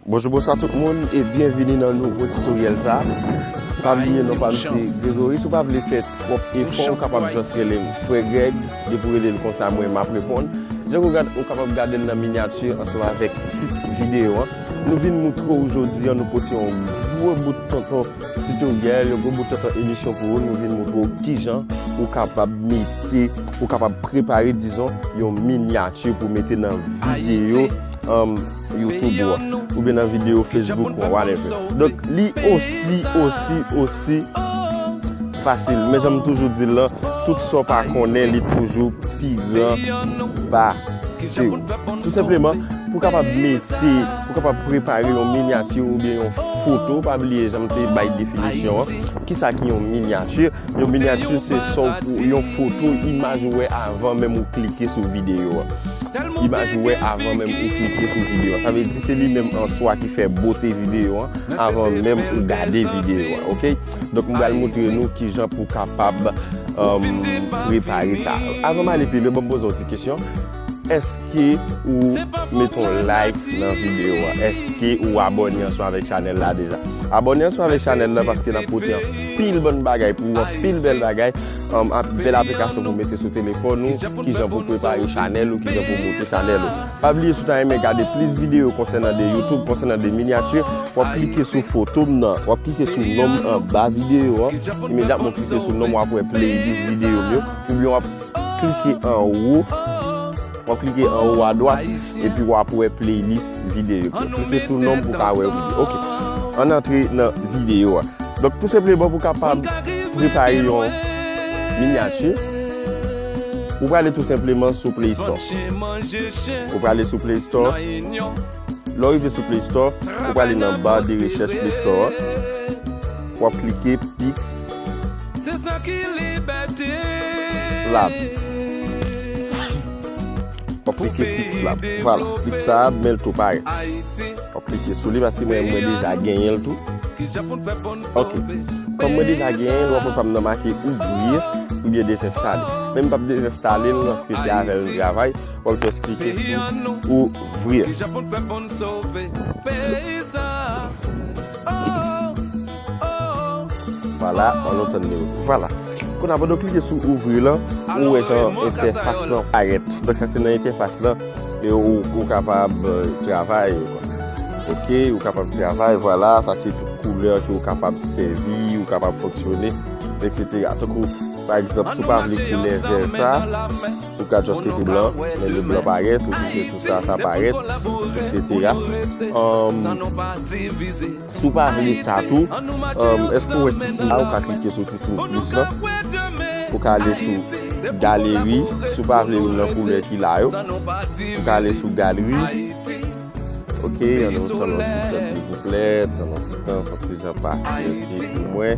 Bonjou bonso a tout moun e byenvini nan nouvo titoryèl sa Pa bliye non pa mse Gregory Sou pa vle fè twòp efò ou kapab just rele m Frè Greg Depi w rele m konsa mwen map reponn Jan ou kapab gade l nan minyati ansanm avèk tit videyo an Nou vin moutre ou jodi an nou pote yon gwo bout tonton titoryèl, yon gwo bout tonton emisyon pou ou, nou vin moutre ou kijan ou kapab mete, ou kapab prepare dizon yon minyati pou mete nan videyo youtube ou an, oubyen nan videyo facebook ou an, whatever. Donk li osi, osi, osi fasil. Men jan m toujou di l lan, tout sa w pa konnen li toujou pi gran pa. Se ou, tou senpleman, pou kapab mete, pou kapab prepare yon minyati ou byen yon foto, pa bliye janm te bay definisyon an, ki sa ki yon minyati, yon minyati se son pou yon foto, imaj ou wè avan menm ou klike sou videyo an. Imaj ou wè avan menm ou klike sou videyo an. Sa vle di se li menm an swa ki fè bote videyo an avan menm ou gade videyo an. Donk m bal moutre nou kijan pou kapab repare sa. Avan m ale pi lwen banm poze yon ti kesyon, eske ou mete yon like nan video a? Eske ou abone ansanm avèk chanèl la deja? Abone ansanm avèk chanèl la paske nap pote anpil bon bagay pou ou, anpil bèl bagay, bèl aplikasyon pou mete sou telefòn ou, kijan pou prepare chanèl ou, kijan pou moutre chanèl ou. Pa bliye si w ta renmen gade plis videyo konsènan de YouTube, konsènan de miniature, wap klike sou foto m nan, wap klike sou non m anba videyo an, imedyatman w klike sou non m wap wè playlist videyo m yo, oubyen wap klike anwo, wap klike anwo a dwat, epi wap wè playlist videyo m yo. Klike sou non m pou w ka wè yo pi byen. Ok, ann antre nan videyo a. Donk tou senpleman pou w kapab prepare yon miniature. Ou prale tou senpleman sou Play Store. Ou prale sou Play Store. Lè w rive sou Play Store, ou prale nan bar de rechèch Play Store an. Wap klike Pix Lab. Wap klike Pix Lab. Vwala, Pix Lab men l tou parèt. Wap klike sou li paske mwen deja genyen l tou. Ok, kòm mwen deja genyen, lwa pwofam nan make ouvrir oubyen dezenstale. Men m pap dezenstale l paske se avè l m travay, wap jès klike sou ouvrir. Vwala, an nou tann li ouvri. Vwala, kounya pandan w klike sou ouvrir lan, ou wè jan entèfas lan parèt. Donk sa se nan entèfas lan. Ou kapab travay ok ou kapab travay vwala sa se tout koulè ke ou kapab sèvi ou kapab fonksyone eksetera tankou pa egzanp si ou pa vle koulè vè sa ou ka just mete blan lè le blan parèt ou klike sou sa sa parèt eksetera. Si w pa vle sa tou, èske w wè ti siy la, ou ka klike sou ti siy plis la pou w ka ale sou galeri, si w pa vle youn nan koulè ki la yo, ou ka ale sou galri ok, annou tann yon ti tan silvouplè, tann yon ti tan fòk ti jan pase ok pou mwen,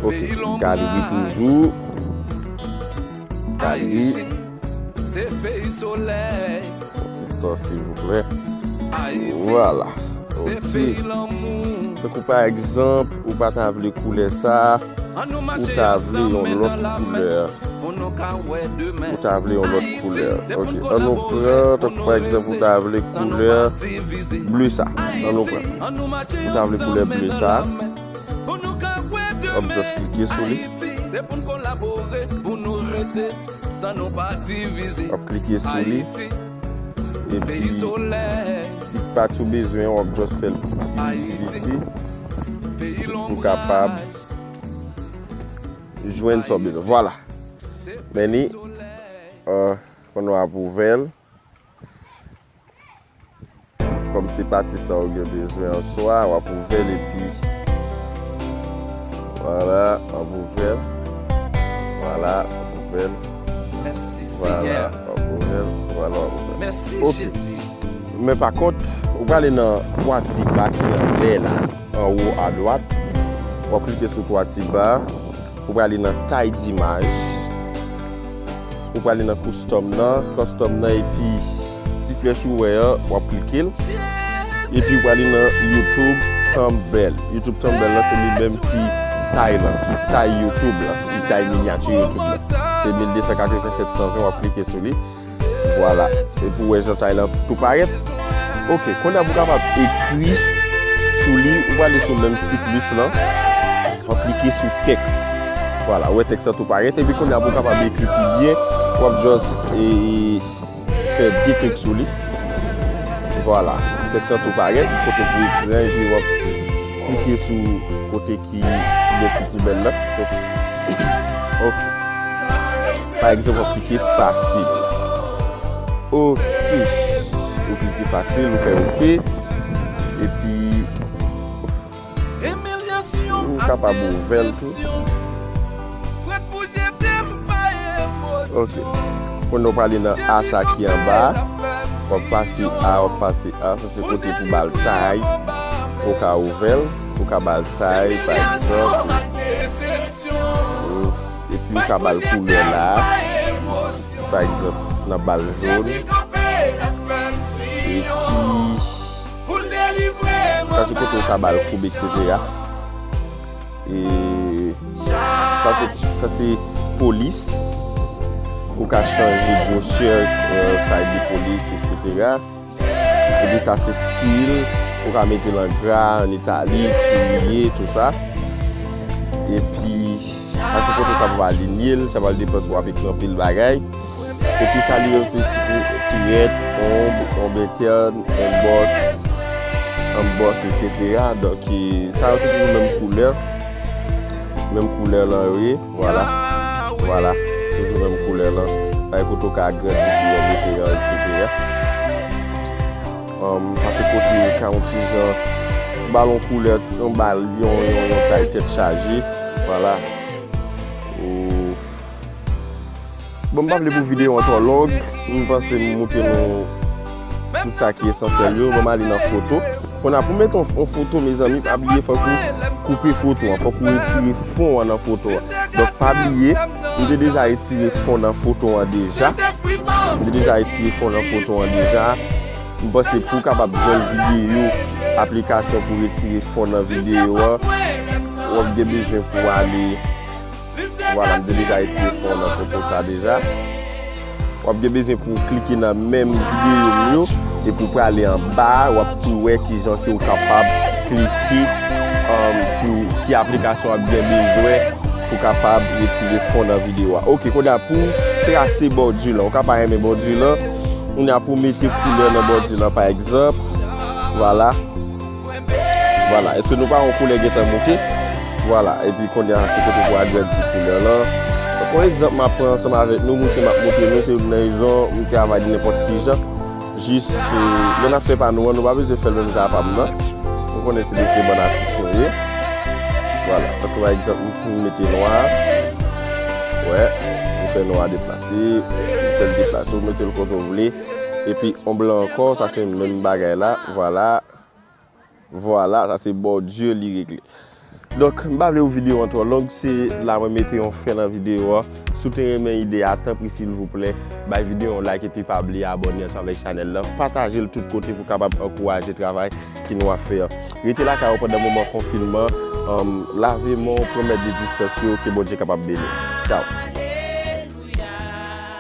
ok, galri toujou galri. Se peyi solèy. Ti to silvouplè. Vwala. Ok. Tan kou pa egzanp ou pa ta vle koulè sa. Ou ta vle yon lòt koulè. Ou ta vle yon lòt koulè. Ok. An nou pran tan kou pa egzanp ou ta vle koulè ble sa. An nou pran. Ou ta vle koulè ble sa. Wap just klike sou li. Wap klike sou li epi si pat ou bezwen an wap just fèl pi ti pi piti jis pou kapab jwenn sa w bezwen vwala men li ou konn wap ouvè l. Kòm se pati sa ou gen bezwen an swa, w ap ouvè l epi. Vwala, w ap ouvè l. Vwala, w ap ouvè l. Mèsi Senyè. Vwala, w ap ouvè l. Vwala, w ap ouvè l. Mèsi Jezi. Men pa kont, ou prale nan 3 ti ba ki anlè la, anwo adwat. W ap klike sou 3 ti ba. Ou prale nan Tay dimaj. Ou prale nan custom nan, custom nan epi ti flèch ou wè an wap klikel epi ou prale nan youtube thumbnail youtube thumbnail lan se li menm ki tay lan ki tay youtube lan ki tay minyati youtube lan se 1280 720 wap klike sou li vwala epi ou wè jan tay lan tou parèt ok konnya pou kapab ekri sou li ou prale sou menm ti plis lan wap klike sou teks. Vwala, wè tèks la tou parèt. Epi kounye a pou w kapab ekri pi byen, w ap jòs e fè de klik sou li. Vwala, tèks la tou parèt. Kote pou ekri a epi w ap klike sou kote ki gen ti poubèl la. Ok. Pa egzanp, w ap klike fasil. Ok. Ou klike fasil, ou fè ok. Epi... Ou kapab ouvèl tou. Ok. Kounye wap ale nan A sa ki anba a. Wap pase A, wap pase A. Sa se kote pou bal tay. Ou ka ouvèl. Ou ka bal tay pa egzanp. Epi ou ka bal koulè la. Pa egzanp nan bal jòn. Epi. Sa se kote ou ka bal koub etc. Sa se polis. Ou ka chanje gosye fay de polis etc. Epi sa se stil. Ou ka mete lan gra, an itali, kouye, tout sa. Epi sa se kote ou ka bal linye. Sa bal depan sou api kranpe l bagay. Epi sa li yo se Create, Home, Home Intern, Inbox, Emboss etc. Donk ki sa yo se toujou menm koulè. Menm koulè lan yo ye. Vwala. Vwala. Se toujou menm koulè lan. Ay kote ou ka agrandi pou yo mete yo etc. Sa se kote yo ka yon ti jan balon koulè. Yon bal, yon yon yon tay tèt chaje. Vwala. Ou. Bon m pa vle pou video an twò long, m panse m moutre nou tout sa ki esansyèl yo, bon m ale nan foto. Konn a pou met yon foto mezanmi pa bliye fòk ou koupe foto an, fòk ou retire fon an nan foto an. Donk pa bliye, m te deja retire fon nan foto an deja, m te deja retire fon nan foto an deja. M panse pou w kapab jwenn video, aplikasyon pou retire fon nan video an, wap gen bezwen pou ale. Vwala mte deja etire fon nan foto sa deja. Wap gen bezwen pou w klike nan menm videyo m yo epi w prale anba a wap tou wè kijan ke w kapab klike pou ki aplikasyon wap gen bezwen pou kapab retire fon nan videyo a. Ok kounye a pou w trase bòdi lan ou ka pa renmen bòdi lan kounye a pou w mete koulè nan bòdi lan pa egzanp vwala. Vwala eske nou pa wè koulè gentan mouke vwala epi konnya se kote pou agrandi koulè lan kon egzanp map pran ansanm avèk nou mouke map moutre nou se youn nan rezon m travay li nenpòt kijan jis lè nap fè pa nou an nou pa bezwen fèl menm jan a pam nan nou konnen se de se bann atis nou ye vwala tankou pa egzanp m fin mete nwa wè m fè nwa deplase m fèl deplase ou metel kote ou vle. Epi on blan ankò sa se menm bagay la vwala vwala sa se bòdye li regle donk m pa vle pou videyo an twò long se la mwen mete yon fen nan videyo a si w te renmen ide a tanpri silvouplè bay videyo a yon like epi pa bliye abòne ansanm avèk chanèl la pataje l tout kote pou kapab ankouraje travay ki nou ap fè an rete lakay ou pandan moman konfinman lave men w pran mèd de distans yo ke Bondye kapab beni w tchaw.